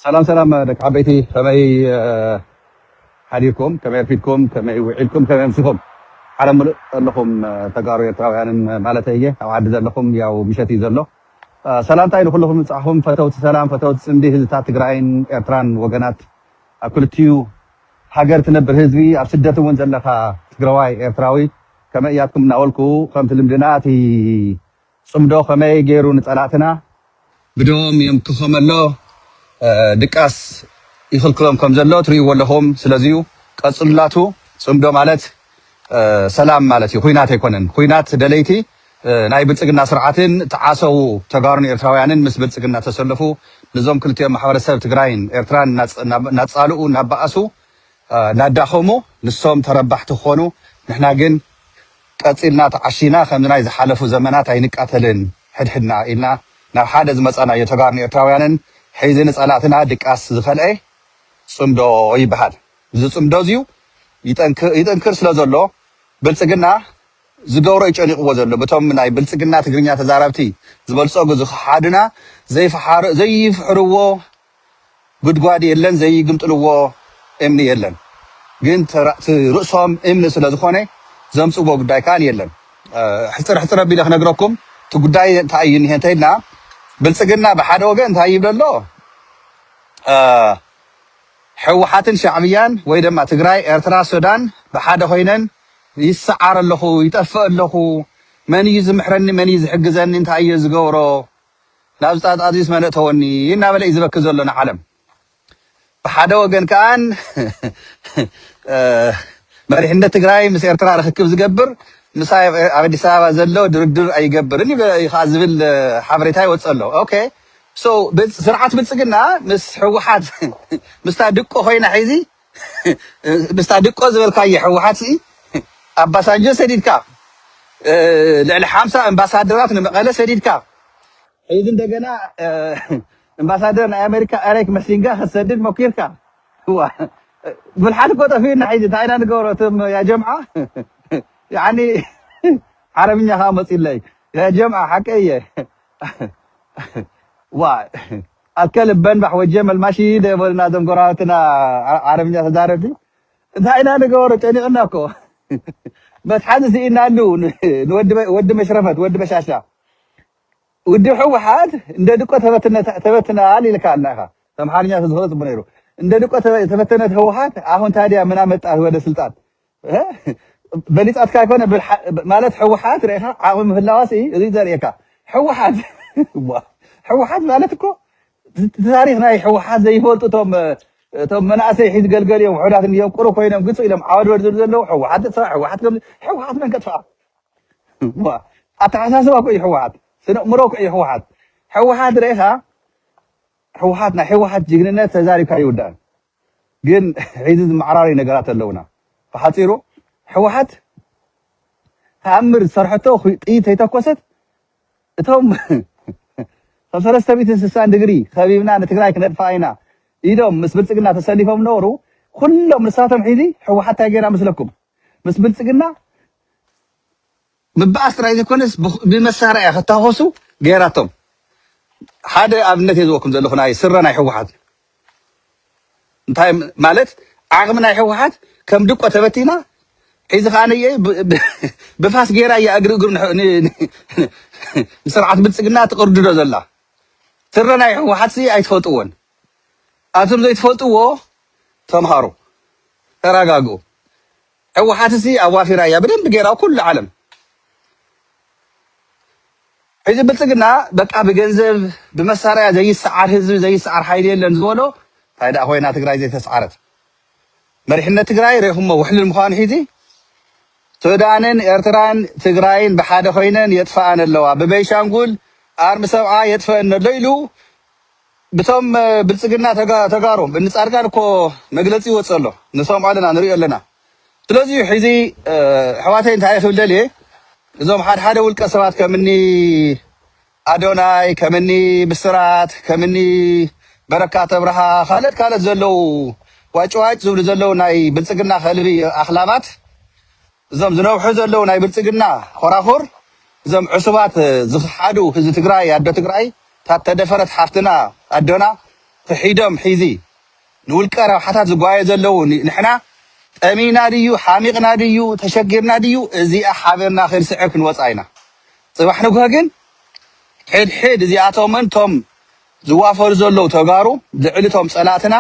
ሰላም ሰላም ደቂ ዓበይቲ ከመይ ሓዲርኩም ከመይ ኣርፊድኩም ከመይ ውዒልኩም ከመይ ኣምሲኹም ዓለም ምሉእ ዘለኹም ተጋሩ ኤርትራውያንን ማለት እየ ኣብ ዓዲ ዘለኹም ያው ምሸት እዩ ዘሎ ሰላምታይ ንኩልኹም ምብፃሕኹም ፈተውቲ ሰላም ፈተውቲ ፅምዲ ህዝብታት ትግራይን ኤርትራን ወገናት ኣብ ክልትኡ ሃገር ትነብር ህዝቢ ኣብ ስደት እውን ዘለካ ትግራዋይ ኤርትራዊ ከመይ እያትኩም እናበልኩ ከምቲ ልምድና እቲ ጽምዶ ከመይ ጌሩ ንጸላእትና ብደዎም የምክኾም ኣሎ ድቃስ ይኽልክሎም ከም ዘሎ ትርእይዎ ኣለኹም ስለዚዩ ቀጽሉላቱ ጽምዶ ማለት ሰላም ማለት እዩ ኹናት ኣይኮነን ኹናት ደለይቲ ናይ ብልጽግና ስርዓትን ትዓሰዉ ተጋሩን ኤርትራውያንን ምስ ብልጽግና ተሰለፉ ንዞም ክልቲኦም ማሕበረሰብ ትግራይን ኤርትራን ናጻልኡ ናባኣሱ ናዳኸሙ ንሶም ተረባሕቲ ክኾኑ ንሕና ግን ቀጺልና ተዓሺና ከምዚ ናይ ዝሓለፉ ዘመናት ኣይንቃተልን ሕድሕድና ኢልና ናብ ሓደ ዝመጻናዮ ተጋሩን ኤርትራውያንን ሕዚ ንጸላእትና ድቃስ ዝኸልኤ ጽምዶ ይበሃል እዚ ጽምዶ እዚዩ ይጥንክር ስለ ዘሎ ብልጽግና ዝገብሮ ዩ ጨኒቕዎ ዘሎ ብቶም ናይ ብልጽግና ትግርኛ ተዛራብቲ ዝበልጸጉ ዝኸሓዱና ዘይፍሓርዘይፍሕርዎ ጉድጓድ የለን ዘይግምጥልዎ እምኒ የለን ግን እቲ ርእሶም እምኒ ስለ ዝኾነ ዘምጽዎ ጉዳይ ካል የለን። ሕጽር ሕጽር ኣቢለ ክነግረኩም እቲ ጉዳይ እንታይ እዩ እኒሀ እንተይልና ብልጽግና ብሓደ ወገን እንታይ ይብል ኣሎ ሕወሓትን ሻዕብያን ወይ ደማ ትግራይ ኤርትራ ሱዳን ብሓደ ኮይነን ይስዓር ኣለኹ ይጠፍእ ኣለኹ መን እዩ ዝምሕረኒ መን እዩ ዝሕግዘኒ እንታይ እየ ዝገብሮ ናብ ዝጣት ኣዝዩስ መን እእተወኒ እናበለ እዩ ዝበኪ ዘሎ ንዓለም ብሓደ ወገን ከኣን መሪሕነት ትግራይ ምስ ኤርትራ ርክክብ ዝገብር ምሳይ ኣብ ኣዲስ ኣበባ ዘሎ ድርድር ኣይገብርን እዩ ከዓ ዝብል ሓበሬታ ይወፅእ ኣሎ ኦኬ ሶ ስርዓት ብልፅግና ምስ ህወሓት ምስታ ድቆ ኮይና ሒዚ ምስታ ድቆ ዝበልካዬ ሕውሓት ሲ ኣባሳንጆ ሰዲድካ ልዕሊ ሓምሳ እምባሳደራት ንመቐለ ሰዲድካ ሕዚ እንደገና እምባሳደር ናይ ኣመሪካ ኤሪክ መሲንጋ ክትሰድድ ሞኪርካ እዋ ብልሓት እኮ ጠፊኡና ሕዚ እንታይ ኢና ንገብሮ እቶም ያ ጀምዓ ያኒ ዓረብኛ ከዓ መፂለይ ያ ጀምዓ ሓቀይ እየ ዋ ኣከል በንባሕ ወጀ መልማሺ ደበልና ዞም ጎራባትና ዓረብኛ ተዛረብቲ እንታይ ኢና ንገበሮ ጨኒቅና እኮ መትሓዚ ስኢናሉ ንወዲ መሽረፈት ወዲ በሻሻ ውድብ ሕወሓት እንደ ድቆ ተበትናል ኢልካ ኣላ ኢኻ ኣምሓርኛ ተዝኽእሎ ጽቡቅ ነይሩ እንደ ድቆ ተበተነት ህወሓት ኣሁን ታዲያ ምን ኣመጣት ወደ ስልጣን በሊጻትካ ኣይኮነ ማለት ሕውሓት ርኢኻ ዓቕሚ ምህላዋ ሲ እዚ ዘርእየካ ሕውሓት ሕውሓት ማለት እኮ ታሪክ ናይ ሕውሓት ዘይፈልጡ እቶም እቶም መናእሰይ ሒዝ ገልገል እዮም ውሑዳት እዮም ቁሩ ኮይኖም ግፁ ኢሎም ዓወድወድ ዝብሉ ዘለዉ ሕወሓት ጥፋእ ሕወሓት ከም ሕወሓት መን ከጥፍኣ ኣተሓሳስባ እኮ እዩ ሕወሓት ስነ እምሮ እኮ እዩ ሕወሓት ሕወሓት ርኢኻ ሕወሓት ናይ ሕወሓት ጅግንነት ተዛሪብካ ይውዳእ ግን ሕዚ ዝመዓራረዩ ነገራት ኣለውና ብሓጺሩ ሕዋሓት ተኣምር ዝሰርሐቶ ጥይት ተይተኮሰት እቶም ብ ሰለስተ ሚእትን ስሳን ድግሪ ከቢብና ንትግራይ ክነጥፍኣ ኢና ኢሎም ምስ ብልጽግና ተሰሊፎም ነበሩ ኩሎም ንሳቶም ሒዚ ሕዋሓት ታይ ገይራ መስለኩም ምስ ብልጽግና ምባኣስ ጥራይ ዘይኮነስ ብመሳርያ ክታኾሱ ገይራቶም። ሓደ ኣብነት እየ ዝወኩም ዘለኹ ናይ ስረ ናይ ህወሓት እንታይ ማለት ዓቕሚ ናይ ህወሓት ከም ድቆ ተበቲና ሒዚ ከዓ ነየ ብፋስ ገይራ እያ እግሪ እግሩ ንስርዓት ብልፅግና ትቕርድዶ ዘላ ስረ ናይ ህወሓት ሲ ኣይትፈልጥዎን ኣብቶም ዘይትፈልጥዎ ተምሃሩ ተረጋግኡ ሕውሓት ሲ ኣዋፊራ ኢያ ብደንቢ ገይራ ኩሉ ዓለም ሕዚ ብልጽግና በቃ ብገንዘብ ብመሳርያ ዘይሰዓር ህዝቢ ዘይሰዓር ሓይሊ የለን ዝበሎ ታይ ደኣ ኮይና ትግራይ ዘይተስዓረት መሪሕነት ትግራይ ሬኹሞ ውሕልል ምዃኑ ሒዚ ሱዳንን ኤርትራን ትግራይን ብሓደ ኮይነን የጥፍኣን ኣለዋ ብበይሻንጉል ኣርሚ ሰብዓ የጥፍአን ኣሎ ኢሉ ብቶም ብልጽግና ተጋ ተጋሩ እኒ ጻድቃን እኮ መግለጺ ይወጽእ ኣሎ ንሰምዖ ኣለና ንሪኦ ኣለና ስለዚ እዩ ሕዚ ኣሕዋተይ እንታይ ክብል ደልየ እዞም ሓድሓደ ውልቀ ሰባት ከምኒ ኣዶናይ ከምኒ ብስራት ከምኒ በረካት ኣብርሃ ካልኦት ካልኦት ዘለዉ ዋጭዋጭ ዝብሉ ዘለዉ ናይ ብልጽግና ከልቢ ኣኽላባት እዞም ዝነብሑ ዘለው ናይ ብልፅግና ኾራኹር እዞም ዕሱባት ዝኽሓዱ ህዝቢ ትግራይ ኣዶ ትግራይ እታ እተደፈረት ሓፍትና ኣዶና ኽሒዶም ሒዚ ንውልቀ ረብሓታት ዝጓየ ዘለው ንሕና ጠሚና ድዩ ሓሚቕና ድዩ ተሸጊርና ድዩ እዚኣ ሓቢርና ኽንስዕር ክንወፃ ኢና ፅባሕ ንግሆ ግን ሕድሕድ እዚኣቶምን እቶም ዝዋፈሩ ዘለው ተጋሩ ልዕሊ እቶም ፀላእትና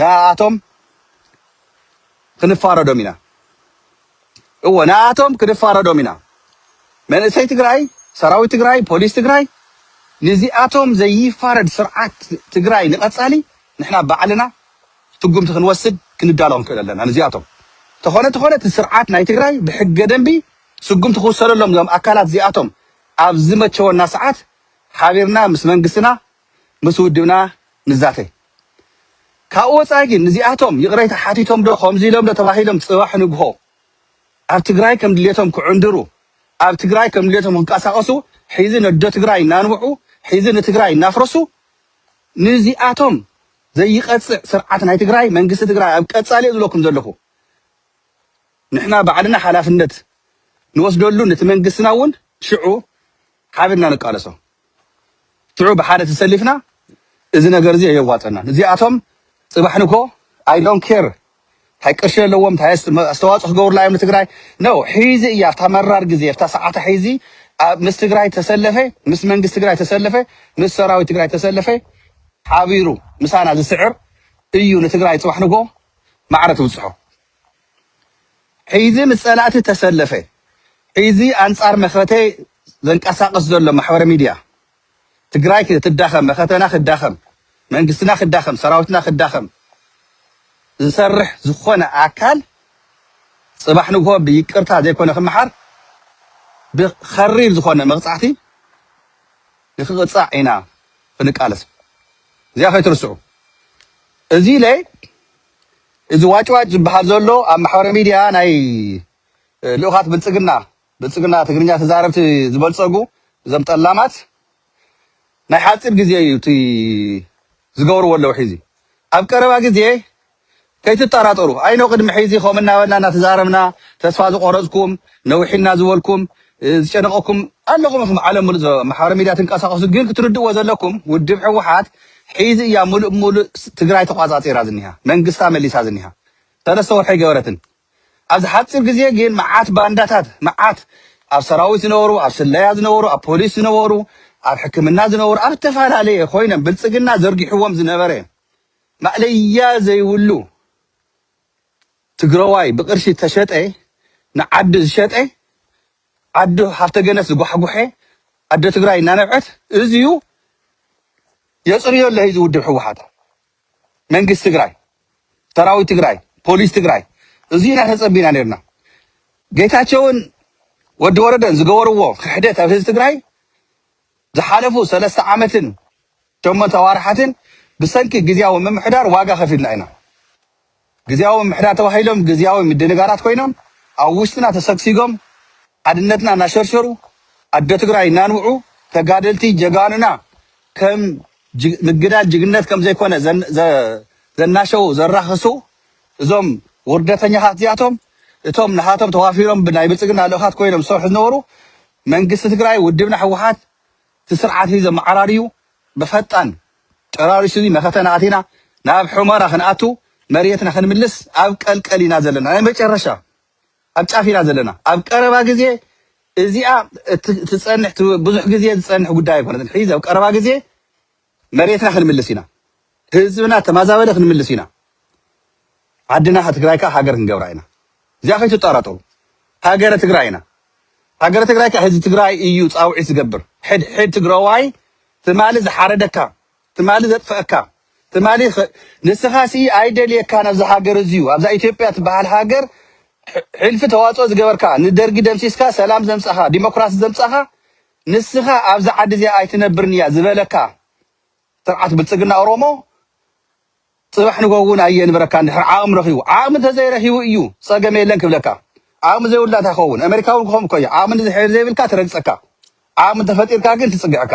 ንኣኣቶም ክንፋረዶም ኢና እወ ንኣኣቶም ክንፋረዶም ኢና መንእሰይ ትግራይ ሰራዊት ትግራይ ፖሊስ ትግራይ ንዚኣቶም ዘይፋረድ ስርዓት ትግራይ ንቀፃሊ ንሕና ባዕልና ትጉምቲ ክንወስድ ክንዳሎ ክንክእል ኣለና ንዚኣቶም ተኾነ ተኾነ እቲ ስርዓት ናይ ትግራይ ብሕገ ደንቢ ስጉምቲ ክውሰደሎም እዞም ኣካላት እዚኣቶም ኣብ ዝመቸወና ሰዓት ሓቢርና ምስ መንግስትና ምስ ውድብና ንዛተ። ካብኡ ወፃኢ ግን ንዚኣቶም ይቕሬታ ሓቲቶም ዶ ከምዚ ኢሎም ዶ ተባሂሎም ፅባሕ ንግሆ ኣብ ትግራይ ከም ድሌቶም ክዕንድሩ ኣብ ትግራይ ከም ድሌቶም ክንቀሳቐሱ ሒዚ ነዶ ትግራይ እናንብዑ ሒዚ ንትግራይ እናፍረሱ ንዚኣቶም ዘይቐፅዕ ስርዓት ናይ ትግራይ መንግስቲ ትግራይ ኣብ ቀፃሊ እየ ዝብለኩም ዘለኹ ንሕና ባዕልና ሓላፍነት ንወስደሉ ነቲ መንግስትና እውን ሽዑ ሓቢርና ንቃለሶ። ሽዑ ብሓደ ተሰሊፍና እዚ ነገር እዚ ኣየዋፀናን እዚኣቶም ፅባሕ ንግሆ ኣይ ዶን ኬር ታይ ቅርሺ ኣለዎም ታይ ኣስተዋፅኦ ክገብሩላ እዮም ንትግራይ ነው ሒዚ እያ ኣብታ መራር ግዜ ኣብታ ሰዓታ ሒዚ ኣብ- ምስ ትግራይ ተሰለፈ ምስ መንግስቲ ትግራይ ተሰለፈ ምስ ሰራዊት ትግራይ ተሰለፈ ሓቢሩ ምሳና ዝስዕር እዩ ንትግራይ ፅባሕ ንግሆ ማዕረ ትብፅሖ ሕይዚ ምስ ጸላእቲ ተሰለፈ ሕይዚ ኣንጻር መኸተ ዘንቀሳቅስ ዘሎ ማሕበረ ሚድያ ትግራይ ክትዳኸም መኸተና ክዳኸም መንግስትና ክዳኸም ሰራዊትና ክዳኸም ዝሰርሕ ዝኾነ ኣካል ጽባሕ ንግሆ ብይቅርታ ዘይኮነ ክመሓር ብኸሪር ዝኾነ መቕጻዕቲ ንክቕጻዕ ኢና ክንቃለስ እዚኣ ከይትርስዑ እዚ ለይ እዚ ዋጭዋጭ ዝበሃል ዘሎ ኣብ ማሕበረ ሚድያ ናይ ልኡኻት ብልፅግና ብልፅግና ትግርኛ ተዛረብቲ ዝበልፀጉ እዞም ጠላማት ናይ ሓፂር ግዜ እዩ እቲ ዝገብርዎ ኣለዉ ሒዚ ኣብ ቀረባ ግዜ ከይትጠራጠሩ ኣይኖ ቅድሚ ሒዚ ከምኡ እናበልና እናተዛረብና ተስፋ ዝቆረፅኩም ነዊሕልና ዝበልኩም ዝጨነቀኩም ኣለኹም ኢኹም ዓለም ምሉእ ዘሎ ማሕበራዊ ሚድያ ትንቀሳቀሱ ግን ክትርድእዎ ዘለኩም ውድብ ህወሓት ሒዚ እያ ምሉእ ብምሉእ ትግራይ ተቋፃፂራ ዝኒሃ መንግስታ መሊሳ ዝኒሃ ሰለስተ ወርሒ ኣይገበረትን ኣብዚ ሓፂር ግዜ ግን መዓት ባንዳታት መዓት ኣብ ሰራዊት ዝነበሩ ኣብ ስለያ ዝነበሩ ኣብ ፖሊስ ዝነበሩ ኣብ ሕክምና ዝነበሩ ኣብ ዝተፈላለየ ኮይኖም ብልፅግና ዘርጊሕዎም ዝነበረ ማእለያ ዘይብሉ ትግረዋይ ብቅርሺ ዝተሸጠ ንዓዱ ዝሸጠ ዓዱ ሃፍተ ገነት ዝጓሕጎሐ ኣደ ትግራይ እናነብዐት እዚዩ የፅርዮ ኣሎ ሂዚ ውድብ ህወሓት መንግስቲ ትግራይ ሰራዊት ትግራይ ፖሊስ ትግራይ እዚዩ ኢና ተፀቢና ነርና ጌታቸውን ወዲ ወረደን ዝገበርዎ ክሕደት ኣብ ህዝቢ ትግራይ ዝሓለፉ ሰለስተ ዓመትን ሸሞንተ ኣዋርሓትን ብሰንኪ ግዝያዊ ምምሕዳር ዋጋ ከፊልና ኢና። ግዝያዊ ምምሕዳር ተባሂሎም ግዝያዊ ምድንጋራት ኮይኖም ኣብ ውሽጥና ተሰግሲጎም ሓድነትና እናሸርሸሩ ኣዶ ትግራይ እናንብዑ ተጋደልቲ ጀጋኑና ከም ምግዳል ጅግንነት ከም ዘይኮነ ዘናሸዉ ዘራኽሱ እዞም ውርደተኛታት እዚኣቶም እቶም ንሃቶም ተዋፊሮም ናይ ብልፅግና ልኡኻት ኮይኖም ዝሰርሑ ዝነበሩ መንግስቲ ትግራይ ውድብና ህወሓት እቲ ስርዓት እዚ ኣመዓራርዩ ብፈጣን ጨራሪሱ እዚ መኸተና ኣቲና ናብ ሑመራ ክንኣቱ መሬትና ክንምልስ ኣብ ቀልቀል ኢና ዘለና ናይ መጨረሻ ኣብ ጫፍ ኢና ዘለና ኣብ ቀረባ ግዜ እዚኣ ትጸንሕ ብዙሕ ግዜ ዝጸንሕ ጉዳይ ኣይኮነትን ሒዚ ኣብ ቀረባ ግዜ መሬትና ክንምልስ ኢና ህዝብና ተማዛበለ ክንምልስ ኢና ዓድና ትግራይ ካኣ ሃገር ክንገብራ ኢና እዚኣ ከይትጣራጠሩ ሃገረ ትግራይ ኢና ሃገረ ትግራይ ካኣ ህዝቢ ትግራይ እዩ ፃውዒት ዝገብር ሕድ ሕድ ትግራዋይ ትማሊ ዝሓረደካ ትማሊ ዘጥፈአካ ትማሊ ንስኻ ሲ ኣይደልየካን ኣብዚ ሃገር እዚዩ ኣብዛ ኢትዮጵያ ትበሃል ሃገር ሕልፊ ተዋፅኦ ዝገበርካ ንደርጊ ደምሲስካ ሰላም ዘምፃኻ ዲሞክራሲ ዘምፃኻ ንስኻ ኣብዛ ዓዲ እዚኣ ኣይትነብርን እያ ዝበለካ ስርዓት ብልፅግና ኦሮሞ ፅባሕ ንጎሆ እውን ኣየንብረካን እንድሕር ዓቕሚ ረኺቡ ዓቕሚ እንተዘይረኺቡ እዩ ፀገም የለን ክብለካ ዓቕሚ ዘይብሉ እንታይ ክኸውን ኣሜሪካ እውን ክኸውን እኮ እዩ ዓቕሚ እንድሕር ዘይብልካ ትረግፀካ ዓቕሚ እንተፈጢርካ ግን ትፅግዕካ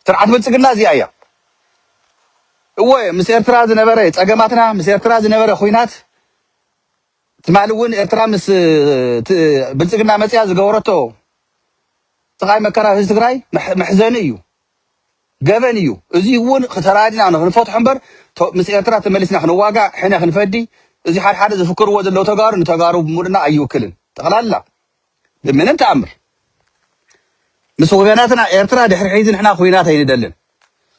ስርዓት ብልፅግና እዚኣ እያ እወ ምስ ኤርትራ ዝነበረ ፀገማትና ምስ ኤርትራ ዝነበረ ኩናት ትማሊ እውን ኤርትራ ምስ ብልፅግና መፅያ ዝገበረቶ ስቃይ መከራ ህዝቢ ትግራይ መሕዘኒ እዩ፣ ገበን እዩ። እዚ እውን ተራዲና ንክንፈትሖ እምበር ምስ ኤርትራ ተመሊስና ክንዋጋእ ሕነ ክንፈዲ እዚ ሓድሓደ ዝፍክርዎ ዘለው ተጋሩ ንተጋሩ ብምሉእና ኣይውክልን ጠቅላላ ብምንም ተኣምር ምስ ወገናትና ኤርትራ ድሕሪ ሕዚ ንሕና ኩናት ኣይንደልን።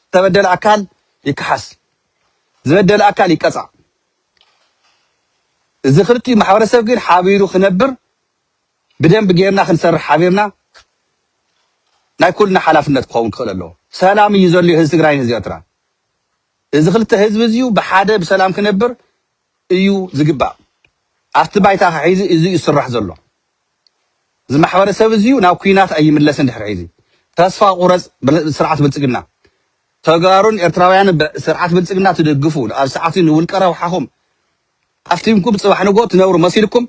ዝተበደለ ኣካል ይከሓስ፣ ዝበደለ ኣካል ይቀፃዕ። እዚ ክልቲኡ ማሕበረሰብ ግን ሓቢሩ ክነብር ብደንቢ ጌርና ክንሰርሕ ሓቢርና ናይ ኩልና ሓላፍነት ክኸውን ክኽእል ኣለዎ። ሰላም እዩ ዘልዮ ህዝቢ ትግራይን ህዝቢ ኤርትራን። እዚ ክልተ ህዝቢ እዚዩ ብሓደ ብሰላም ክነብር እዩ ዝግባእ። ኣብቲ ባይታ ከሒዚ እዚ እዩ ዝስራሕ ዘሎ። እዚ ማሕበረሰብ እዚ ናብ ኩናት ኣይምለስን ድሕሪ ሕዚ ተስፋ ቁረፅ ስርዓት ብልፅግና። ተጋሩን ኤርትራውያንን ብ ስርዓት ብልፅግና ትድግፉ ኣብ ሰዓት እዚ ንውልቀ ረብሓኹም ሃፍቲምኩም ፅባሕ ንግሆ ትነብሩ መሲልኩም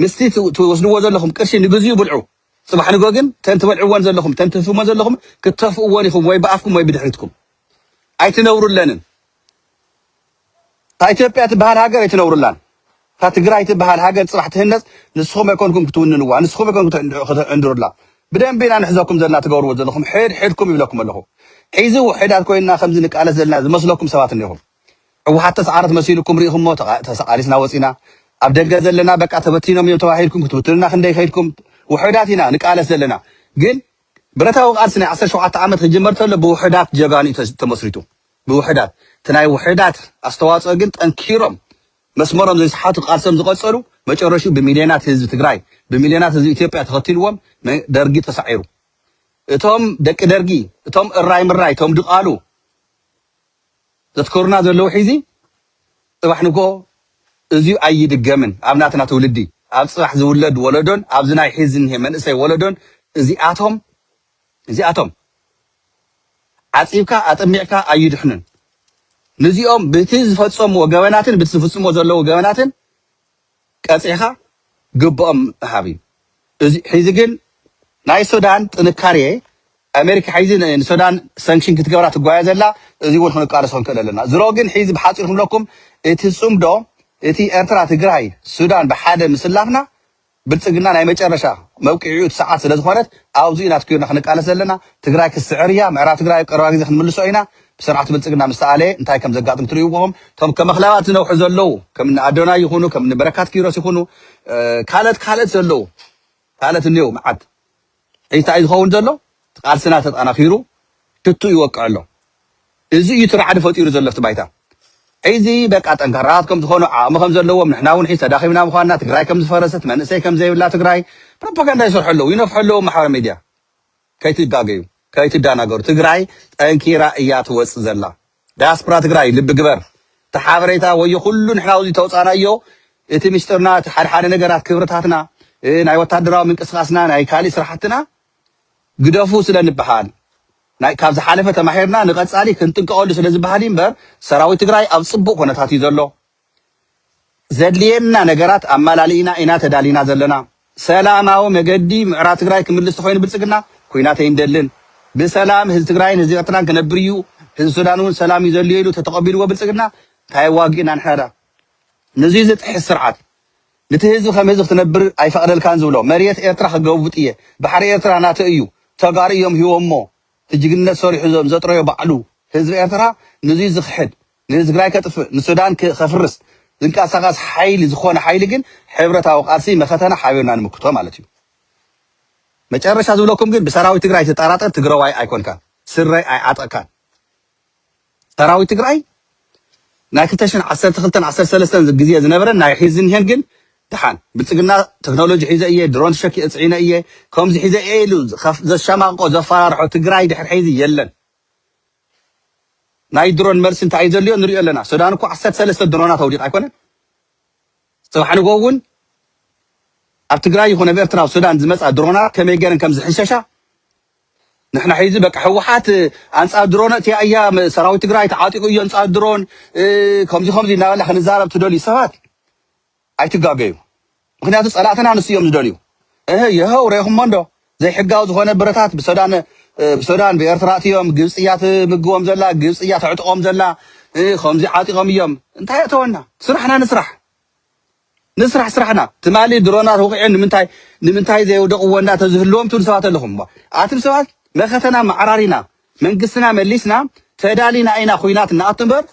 ምስቲ ትወስድዎ ዘለኹም ቅርሺ ንግዚኡ ብልዑ ፅባሕ ንግሆ ግን ተን ትበልዕዎን ዘለኹም ተን ትህፍትሞን ዘለኹም ክተፍእዎን ኢኹም ወይ ብኣፍኩም ወይ ብድሕሪትኩም ኣይትነብሩለንን እታ ኢትዮጵያ ትበሃል ሃገር ኣይትነብሩላን። እታ ትግራይ ትበሃል ሃገር ፅባሕ ትህነፅ ንስኹም ኣይኮንኩም ክትውንንዋ፣ ንስኹም ኣይኮንኩም ክትዕንድሩላ። ብደንቢ ኢና ንሕዘኩም ዘለና ትገብርዎ ዘለኹም ሕድ ሕድኩም ይብለኩም ኣለኹ። ሒዚ ውሕዳት ኮይንና ከምዚ ንቃለስ ዘለና ዝመስለኩም ሰባት እኔኹም። ህወሓት ተስዓረት መሲልኩም ሪኢኹሞ ተቓሊስና ወፂና። ኣብ ደገ ዘለና በቃ ተበቲኖም እዮም ተባሂልኩም ክትብትኑና ክንደይ ከይድኩም። ውሕዳት ኢና ንቃለስ ዘለና ግን ብረታዊ ቃልሲ ናይ ዓሰርተ ሸውዓተ ዓመት ክጅመር ተሎ ብውሕዳት ጀጋኑ እዩ ተመስሪቱ። ብውሕዳት እቲ ናይ ውሕዳት ኣስተዋፅኦ ግን ጠንኪሮም መስመሮም ዘይሰሓቱ ቃልሶም ዝቐፀሉ መጨረሽኡ ብሚልዮናት ህዝቢ ትግራይ ብሚልዮናት ህዝቢ ኢትዮጵያ ተኸቲልዎም ደርጊ ተሳዒሩ እቶም ደቂ ደርጊ እቶም እራይ ምራይ እቶም ድቓሉ ዘትከሩና ዘለዉ ሒዚ ፅባሕ ንግሆ እዙይ ኣይድገምን ኣብ ናትና ትውልዲ ኣብ ፅባሕ ዝውለድ ወለዶን ኣብዚ ናይ ሒዚ እኒሀ መንእሰይ ወለዶን እዚኣቶም እዚኣቶም ዓጺብካ ኣጠሚቕካ ኣዩድሕኑን ንዚኦም ብቲ ዝፈጸምዎ ገበናትን ብቲ ዝፍጽምዎ ዘለዉ ገበናትን ቀጺዕካ ግብኦም ምሃብ እዩ እዚ ሒዚ ግን ናይ ሱዳን ጥንካሬ ኣሜሪካ ሒዚ ንሱዳን ሰንክሽን ክትገብራ ትጓየ ዘላ እዚ እውን ክንቃለሶ ክንክእል ኣለና ዝሮ ግን ሒዚ ብሓጺር ክብለኩም እቲ ጽምዶ እቲ ኤርትራ ትግራይ ሱዳን ብሓደ ምስላፍና ብልፅግና ናይ መጨረሻ መብቂዒኡ እቲ ሰዓት ስለዝኾነት ኣብዙይ ኢና ትኪርና ክንቃለስ ዘለና ትግራይ ክትስዕር እያ ምዕራብ ትግራይ ኣብ ቀረባ ግዜ ክንምልሶ ኢና ብስርዓት ብልፅግና ምስ ተኣለየ እንታይ ከምዘጋጥም ትሪኡ ኢኹም እቶም ከመኽላባት ዝነውሑ ዘለው ከምኒ ኣዶናይ ይኹኑ ከምኒ በረካት ኪሮስ ይኹኑ ካልእት ካልእት ዘለው ካልእት እኔው መዓት እንታይ እዩ ዝኸውን ዘሎ? እቲ ቃልስና ተጠናኺሩ ትቱ ይወቅዕ ኣሎ። እዚ እዩ እቲ ራዕዲ ፈጢሩ ዘሎ ኣብቲ ባይታ። ሕዚ በቃ ጠንካራታት ከም ዝኾኑ፣ ዓቕሚ ከም ዘለዎም፣ ንሕና እውን ሕዚ ተዳኺምና ምዃንና፣ ትግራይ ከም ዝፈረሰት፣ መንእሰይ ከም ዘይብላ ትግራይ፣ ፕሮፓጋንዳ ይሰርሑ ኣለዉ፣ ይነፍሑ ኣለዉ ኣብ ማሕበራዊ ሚድያ። ከይትጋገዩ፣ ከይትዳናገሩ። ትግራይ ጠንኪራ እያ ትወጽእ ዘላ። ዳያስፕራ ትግራይ ልቢ ግበር እቲ ሓበሬታ ወዮ ኩሉ ንሕና ኣብዚ ተውፃእናዮ እቲ ሚስጥርና እቲ ሓደ ሓደ ነገራት ክብርታትና ናይ ወታደራዊ ምንቅስቃስና ናይ ካሊእ ስራሕትና ግደፉ ስለ ንብሃል ናይ ካብ ዝሓለፈ ተማሂርና ንቀፃሊ ክንጥንቀቀሉ ስለ ዝብሃል እዩ እምበር ሰራዊት ትግራይ ኣብ ፅቡቅ ኩነታት እዩ ዘሎ ዘድልየና ነገራት ኣማላሊእና ኢና ተዳሊና ዘለና። ሰላማዊ መገዲ ምዕራብ ትግራይ ክምልስ ተኾይኑ ብልፅግና ኩናት ኣይንደልን። ብሰላም ህዝቢ ትግራይን ህዝቢ ኤርትራን ክነብር እዩ። ህዝቢ ሱዳን እውን ሰላም እዩ ዘድልዮ ኢሉ ተተቐቢልዎ ብልፅግና እንታይ ኣዋጊእና ንሕና ድኣ። ንዙይ ዝጥሕስ ስርዓት ንቲ ህዝቢ ከም ህዝቢ ክትነብር ኣይፈቕደልካን ዝብሎ መሬት ኤርትራ ክገቡጥ እየ ባሕሪ ኤርትራ ናተይ እዩ ተጋሩ እዮም ሂቦሞ እቲ ጅግንነት ሰሪሑ ዘጥረዮ ባዕሉ ህዝቢ ኤርትራ ንዙይ ዝኽሕድ ንትግራይ ከጥፍእ ንሱዳን ከፍርስ ዝንቀሳቀስ ሓይሊ ዝኾነ ሓይሊ ግን ሕብረታዊ ቃልሲ መኸተና ሓቢርና ንምክቶ ማለት እዩ። መጨረሻ ዝብለኩም ግን ብሰራዊት ትግራይ ትጠራጠር ትግረዋይ ኣይኮንካን ስረ ኣይዓጠቅካን ሰራዊት ትግራይ ናይ ክልተ ሽሕን ዓሰርተ ክልተን ዓሰርተ ሰለስተን ግዜ ዝነበረን ናይ ሕዚ ዝኒሀን ግን ድሓን ብልፅግና ቴክኖሎጂ ሒዘ እየ ድሮን ሸኪ እፅዒነ እየ ከምዚ ሒዘ እየ ኢሉ ዘሻማቕቆ ዘፈራርሖ ትግራይ ድሕር ሕዚ የለን ናይ ድሮን መልሲ እንታይ እዩ ዘልዮ ንሪኦ ኣለና ሱዳን እኮ ዓሰርተ ሰለስተ ድሮናት ኣውዲቃ ኣይኮነን ጽባሕ ንግሆ እውን ኣብ ትግራይ ይኹን ኣብ ኤርትራ ኣብ ሱዳን ዝመጻ ድሮናት ከመይ ገይረን ከም ዝሕንሸሻ ንሕና ሒዚ በቃ ህወሓት ኣንጻር ድሮን እቲኣ እያ ሰራዊት ትግራይ ተዓጢቑ እዮ ኣንጻር ድሮን ከምዚ ከምዚ እናበልና ክንዛረብ ትደልዩ ሰባት ኣይትጋገዩ ምኽንያቱ ጸላእትና ንሱ እዮም ዝደልዩ እህ የሀው ረኢኹሞ እንዶ ዘይሕጋዊ ዝኾነ ብረታት ብሰዳን ብሰዳን ብኤርትራ ኣትዮም ግብጺ እያ ትምግቦም ዘላ ግብጺ እያ ተዕጥቆም ዘላ እህ ከምዚ ዓጢቆም እዮም እንታይ ኣተወና ስራሕና ንስራሕ ንስራሕ ስራሕና ትማሊ ድሮናት ወቂዑ ንምንታይ ንምንታይ ዘይውደቕዎ እንዳ ተዝህልዎም ትብሉ ሰባት ኣለኹም ኣትም ሰባት መኸተና መዓራሪና መንግስትና መሊስና ተዳሊና ኢና ኩናት ንኣቱ እምበር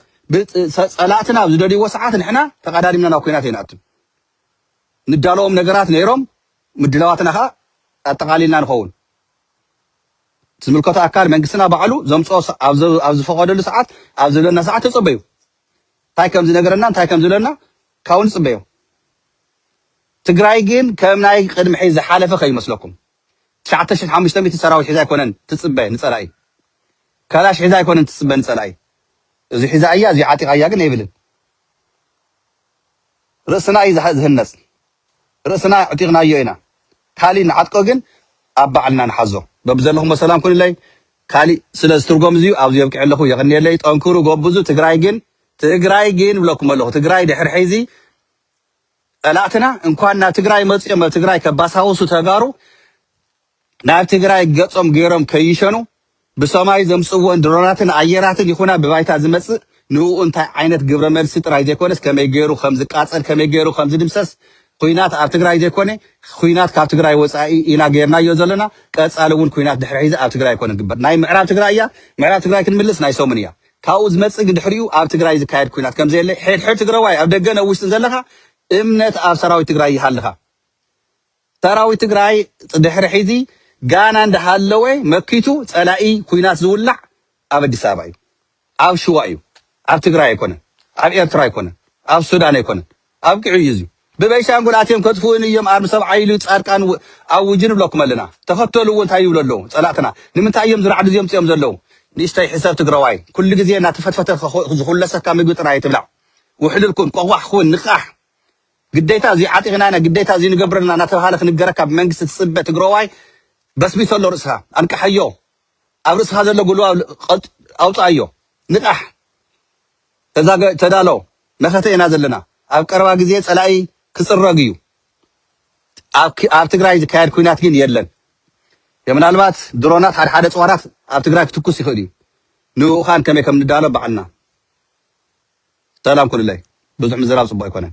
ጸላእትና ኣብ ዝደልይዎ ሰዓት ንሕና ተቐዳዲምና ናብ ኩናት ኣይንኣቱን። ንዳለዎም ነገራት ነይሮም ምድላዋትና ከኣ ኣጠቓሊልና ንኸውን። ዝምልከቶ ኣካል መንግስትና ባዕሉ ዘምጽኦ ኣብ ዝፈቐደሉ ሰዓት ኣብ ዝብለና ሰዓት ተጸበዩ እንታይ ከም ዝነገረና እንታይ ከም ዝብለና ካብኡ ንጽበዮ። ትግራይ ግን ከም ናይ ቅድሚ ሕዚ ዝሓለፈ ከይመስለኩም ትሽዓተ ሽሕ ሓሙሽተ ሚእቲ ሰራዊት ሒዛ ኣይኮነን ትጽበ ንጸላኢ ካላሽ ሒዛ ኣይኮነን ትጽበ ንጸላኢ እዙይ ሒዛ እያ እዙይ ዓጢቃ እያ ግን ኣይብልን ርእስና እዩ ዝህነጽ ርእስና ኣዕጢቅናዮ ኢና ካሊእ ንዓጥቆ ግን ኣብ ባዕልና ንሓዞ በብዘለኹሞ ሰላም ኩንለይ ካሊእ ስለ ዝትርጎም እዚዩ ኣብዚ የብቅዕ ኣለኹ የቀንየለይ ጠንክሩ ጎብዙ ትግራይ ግን ትግራይ ግን ብለኩም ኣለኹ ትግራይ ድሕሪ ሕዚ ጸላእትና እንኳን ናብ ትግራይ መጽኦም ኣብ ትግራይ ከባሳውሱ ተጋሩ ናብ ትግራይ ገጾም ገይሮም ከይሸኑ ብሰማይ ዘምጽዎን ድሮናትን ኣየራትን ይኹና ብባይታ ዝመጽእ ንኡ እንታይ ዓይነት ግብረ መልሲ ጥራይ ዘይኮነስ ከመይ ገይሩ ከም ዝቃጸል ከመይ ገይሩ ከም ዝድምሰስ ኩናት ኣብ ትግራይ ዘይኮነ ኩናት ካብ ትግራይ ወጻኢ ኢና ገርናዮ ዘለና ቀጻሊ እውን ኩናት ድሕሪ ሒዚ ኣብ ትግራይ ኣይኮነ ግበር ናይ ምዕራብ ትግራይ እያ ምዕራብ ትግራይ ክንምልስ ናይ ሰሙን እያ ካብኡ ዝመጽእ ግን ድሕሪኡ ኣብ ትግራይ ዝካየድ ኩናት ከምዘየለ ሕድሕድ ትግረዋይ ኣብ ደገን ኣብ ውሽጥን ዘለኻ እምነት ኣብ ሰራዊት ትግራይ ይሃልኻ። ሰራዊት ትግራይ ድሕሪ ሕዚ ጋና እንዳሃለወ መኪቱ ጸላኢ ኩናት ዝውላዕ ኣብ ኣዲስ ኣበባ እዩ፣ ኣብ ሽዋ እዩ፣ ኣብ ትግራይ ኣይኮነን፣ ኣብ ኤርትራ ኣይኮነን፣ ኣብ ሱዳን ኣይኮነን፣ ኣብቂዑ እዩ እዚ ብበይሻንጉል ኣትዮም ከጥፍኡኒ እዮም ኣርሚ ሰብዓይ ኢሉ ፃድቃን ኣውጁ ንብለኩም ኣለና ተከተልዎ እንታይ ይብሉ ኣለዉ ፀላእትና ንምንታይ እዮም ዝራዕዱ እዚኦም ምፂኦም ዘለዉ ንእሽተይ ሕሰብ ትግረዋይ ኩሉ ግዜ እናተፈትፈተ ዝኩለሰካ ምግቢ ጥራይ ኣይትብላዕ ውሕሉል ኩን ቆቋሕ ኩን ንቃሕ ግዴታ እዙይ ዓጢቅና ኢና ግዴታ እዙይ ንገብር ኣለና እናተብሃለ ክንገረካ ብመንግስቲ ትፅበ ትግረዋይ በስቢሶ ኣሎ ርእስካ ኣንቃሓዮ ኣብ ርእስካ ዘሎ ጉልባብ ኣውፅኣዮ ንቃሕ ተዛገ ተዳሎ መኸተ ኢና ዘለና ኣብ ቀረባ ግዜ ጸላኢ ክጽረግ እዩ ኣብ ኣብ ትግራይ ዝካየድ ኩናት ግን የለን የምናልባት ድሮናት ሓደ ሓደ ጽዋራት ኣብ ትግራይ ክትኩስ ይኽእል እዩ ንኡኻን ከመይ ከም ንዳሎ ባዕልና ሰላም ኩኑለይ ብዙሕ ምዝራብ ጽቡቅ ኣይኮነን።